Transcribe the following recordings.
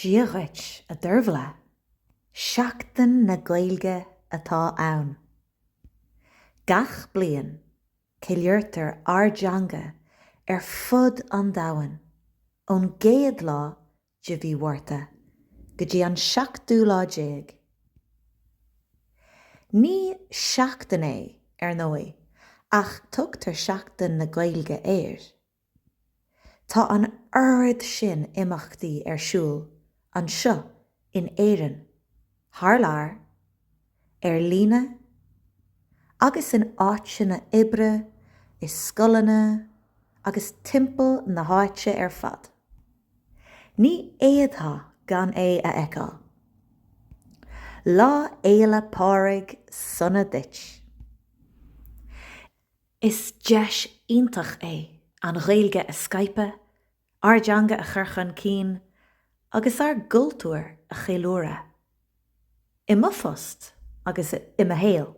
Dia dhuit, a Dervla. Seachtain na Gaeilge atá ann. Gach bliain, ceiliúrtar ár dteanga ar fud an domhain, ón gcéad lá de mhí Mhárta go dtí an seachtú lá déag. Ní seachtain é, ar ndóigh, ach tugtar Seachtain na Gaeilge air. Tá an oiread sin imeachtaí ar siúl anseo in Éirinn, thar lear, ar líne agus in áiteanna oibre, i scoileanna agus timpeall na háite ar fad. Ní fhéadfá gan é a fheiceáil. Lá Fhéile Pádraig sona duit! Is deis iontach é an Ghaeilge a scaipeadh, ár dteanga a chur chun cinn agus ár gcultúr a cheiliúradh. I mo phost agus i mo shaol,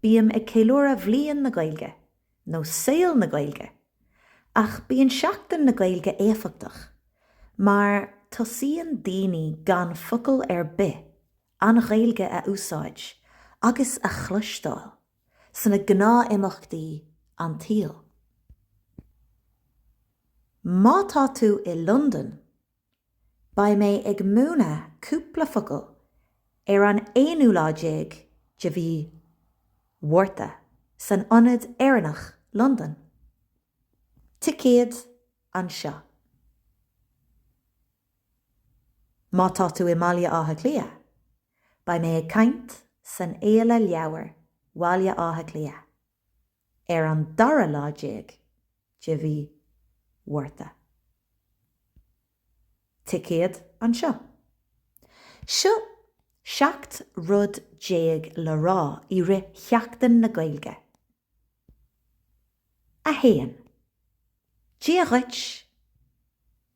bím ag ceiliúradh Bhliain na Gaeilge nó Saol na Gaeilge ach bíonn Seachtain na Gaeilge éifeachtach mar tosaíonn daoine gan focal ar bith an Ghaeilge a úsáid agus a chloisteáil. sna gnáthimeachtaí an tsaoil. Má tá tú i Londain, beidh mé ag múineadh cúpla focal ar an aonú lá déag de mhí Mhárta san Ionad Éireannach, Londain. Ticéad anseo. Má tá tú i mBaile Átha Cliath, beidh mé ag caint san Fhéile Leabhar Bhaile Átha Cliath ar an dara lá déag de mhí Mhárta. Ticéad anseo. Seo seacht rud déag le rá i rith Sheachtain na Gaeilge. 1. Dia dhuit!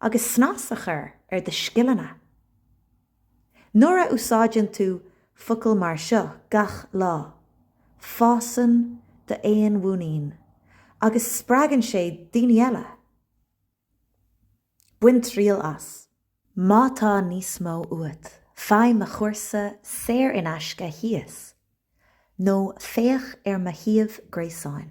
agus snas a chur ar do scileanna. Nuair a úsáideann tú focail mar seo gach lá, fásann d'fhéinmhuinín agus spreagann sé daoine eile. Bain triail as. Má tá níos mó uait, faigh mo chúrsa saor in aisce thíos nó féach ar mo shuíomh gréasáin.